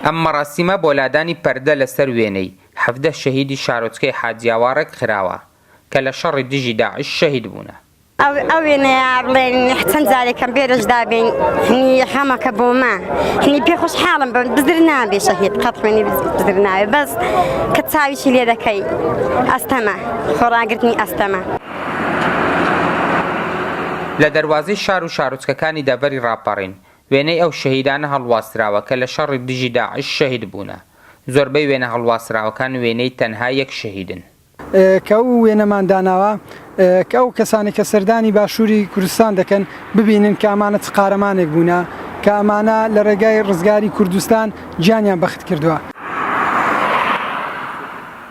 ئەم مەراسیمە بۆ لادانی پەردە لەسەر وێنەی حەڤدە شەهیدی شارۆچکەی حاجیاوا ڕێکخراوە کە لە شەڕی دژی داعش شەهید بوونە. ئەو وێنەیە بڵێن چەند جارێکم بێرش دابین هنی خەمەکە بۆمە هنی پێ خۆشحاڵم بم بزر نابێ شەهید قەت خوێنی بزر ناوێ بەس کە چاویشی لێ دەکەی ئەستەمە خۆڕاگرتنی ئەستەمە. لە دەروازەی شار و شارۆچکەکانی دەڤەری ڕاپەڕین وێنەی ئەو شەهیدانە هەڵواسراوە کە لە شەڕی دژی داعش شەهید بوونە. زۆربەی وێنە هەڵواسراوەکان وێنەی تەنها یەک شەهیدن. کە ئەو وێنەمان داناوە کە ئەو کەسانەی کە سەردانی باشووری کوردستان دەکەن ببینن کە ئەمانە چ قارەمانێک بوونە کە ئەمانە لە ڕێگای ڕزگاری کوردستان گیانیان بەخت کردووە.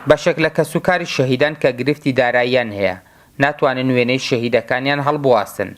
بەشێک لە کەسوکاری شەهیدان کە گرفتی داراییان هەیە، ناتوانن وێنەی شەهیدەکانیان هەڵبواسن.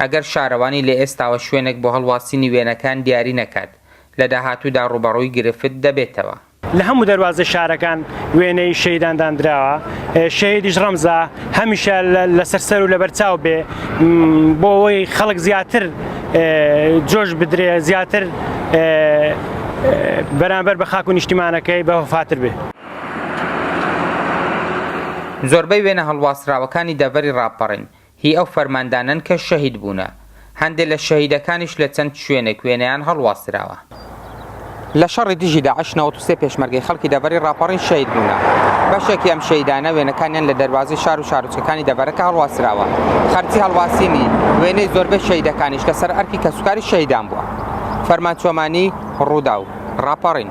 ئەگەر شارەوانی لە ئێستاوە شوێنێک بۆ هەڵواسینی وێنەکان دیاری نەکات، لە داهاتوودا ڕووبەڕووی گرفت دەبێتەوە. لە هەموو دەروازەی شارەکان وێنەی شەهیدان داندراوە، شەهیدیش ڕەمزە هەمیشە لەسەر سەر و لەبەرچاو بێ، بۆ ئەوەی خەڵک زیاتر جۆش بدرێ، زیاتر بەرانبەر بە خاک و نیشتیمانەکەی بە وەفاتر بێ. زۆربەی وێنە هەڵواسراوەکانی دەڤەری ڕاپەڕین، هی ئەو فەرماندانەن کە شەهید بوونە. هەندێ لە شەهیدەکانیش لە چەند شوێنێک وێنەیان هەڵواسراوە. لە شەڕی دژی داعش نەوەد و سێ پێشمەرگەی خەڵکی دەڤەری ڕاپەڕین شەهید بوونە. بەشێکی ئەم شەهیدانە وێنەکانیان لە دەروازەی شار و شارۆچکەکانی دەڤەرەکە هەڵواسراوە. خەرجی هەڵواسینی وێنەی زۆربەی شەهیدەکانیش لەسەر ئەرکی کەسوکاری شەهیدان بووە. فەرمان چۆمانی، ڕووداو. ڕاپەڕین.